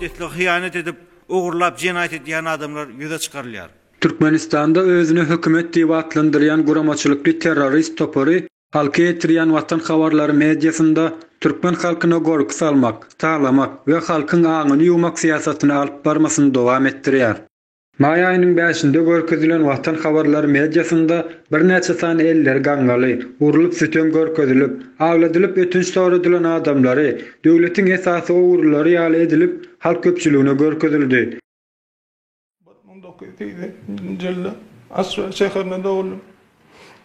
Mukaddeslige hyýanat edip, ogurlap jenaýat edýän adamlar ýüze çykarylýar. Türkmenistanda özüni hökümet diýip atlandyrýan guramaçylykly terrorist topary halka ýetirýän Watan habarlary mediasynda türkmen halkyna gorky salmak, talamak we halkyň aňyny ýuwmak syýasatyny alyp barmasyny dowam etdirýär. Maý aýynyň bäşinde görkezilen Watan habarlary mediasynda birnäçe sany elleri gaňňaly, urlup sütem görkezilip, agladylyp ötünç soradylan adamlary, döwletiň esasy ogurlary ýaly edilip halk köpçüligine görkezildi. Bir müň dokuz ýüz segsen ikinji ýylda Aşgabat şäherinde doguldy.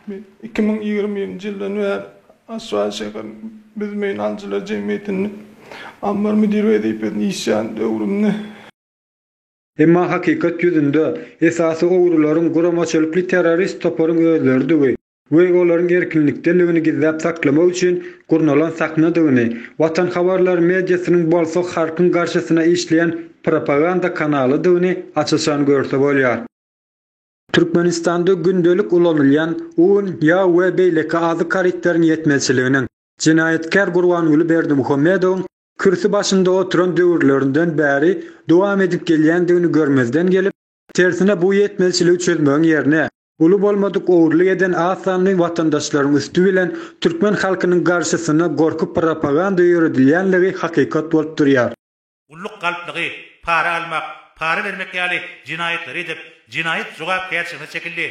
Men iki müň ýigrimi birinji ýyldan bäri Aşgabat şäheriniň Büzmeýin alyjylar jemgyýetinde ambar müdiri wezipesinde işleýän döwrümde, Emma hakykat ýüzünde, esasy ogrylaryň guramaçylykly terrorist toparyň özleridigui we olaryň erkinlikdeligini gizläp saklamak üçin gurnalan sahnadygyny, Watan habarlary mediasynyň bolsa halkyň garşysyna işleýän propaganda kanalydygyny aç-açan görse bolýar. Türkmenistanda gündelik ulanylýan un, ýag we beýleki azyk harytlaryň ýetmezçiliginiň, jenaýatkär Gurbanguly Berdimuhamedowyň kürsi başynda oturan döwürlerinden bäri dowam edip gelýändigini görmezden gelip, tersine bu ýetmezçiligi çözmegiň ýerine, uly bolmadyk ogurlyk eden az sanly watandaşlaryň üsti bilen türkmen halkynyň garşysyna gorky propaganda ýöredilýänligi hakykat bolup durýar. Gulluk galplygy, para almak, para bermek ýaly jenaýatlary edip, jenaýat jogapkärçiligine çekildi.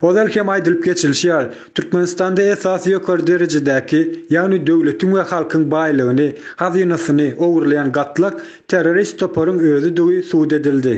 Ozal hem aýdylyp geçilişi ýaly, Türkmenistanda esasy ýokary derejedäki, ýagny döwletiň we halkyň baýlygyny, hazynasyny ogurlaýan gatlak terrorist toparyň özüdigi subut edildi.